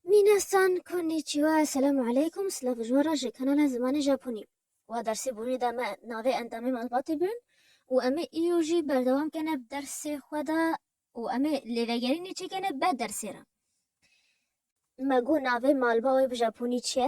Minasan konnichiwa Esselamu aleykum Silav ji wan re ji kanala Zimanê Japonî Wa dersê bûnê de me navê endamê malbatê bin û em ê îro jî berdewam kene bi dersê xwe de û em ê lêvegerînê çêkene beh dersê re Me got navê malba wê bi japonî çi ye?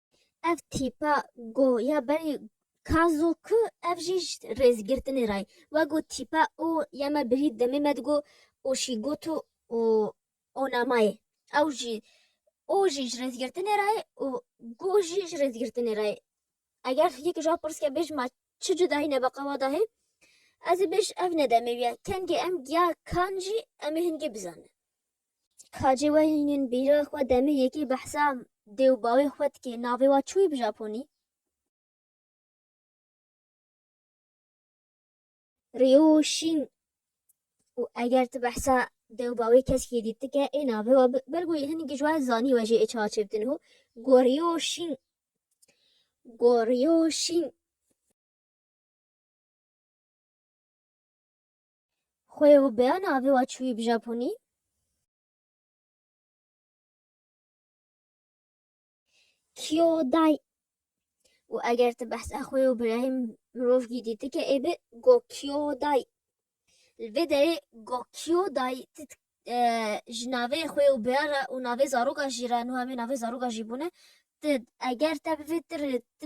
Ev tîpa go ya berî kazo ku ev jî ji rêzgirtinê re ye. We got tîpa o ya me birî demê me digot oşîgoto û onamayê. Ew jî o jî ji rêzgirtinê re ye û go jî ji rêzgirtinê re ye. Eger yek ji wan pirs ke bêj ma çi cudayîne bi qewa de heye? Ez ê bêj ev ne demê wî ye. Kengê em giya kan jî em ê hingê bizanin. Hacê Wehînên bîra xwe demê yekê behsa dê û bawê xwe dike, navê wan çi wî bi japonî? Ryo Şîn û eger tu behsa dê û bawê keskê dît dike ê navê wa bi belkû hinî gijwa zanî we jê ê çawa çê bitin ho Goryo Şîn Goryo Şîn Xwe û beya navê wa çûyî bi Japonî? Kyodai. û eger tu behsa xwe û birayê mirovkî dîtike ê bi Gokyodai. Li vê derê Gokyodai tu e, ji navê xwe û beya re û navê zaroka jî re, nuha vê navê zaroka jî bûne, tu eger te bivê tu rê tu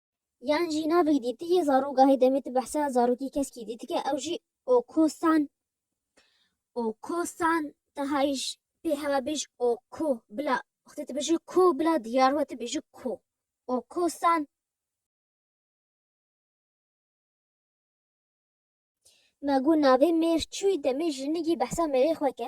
Yan jî navek dîtiyê zarok gahê demê tu behsa zarokî keskî dîtike ew jî okosan okosan tahayîş pê hewa bêj oko bila xte tu bêje ko bila diyar we tu bêje ko okosan me got navê mêr çûyî demê jinigî behsa mêrê xwe ke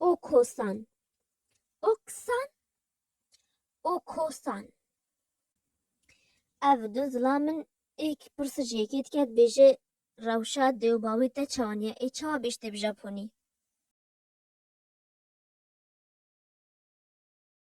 Okosan Oksan Okosan Ev du zila min êk pirsa ji yekê dike dibêje rewşa dê û bawê te çawan ye ê çawa bêj tê bi Japonî?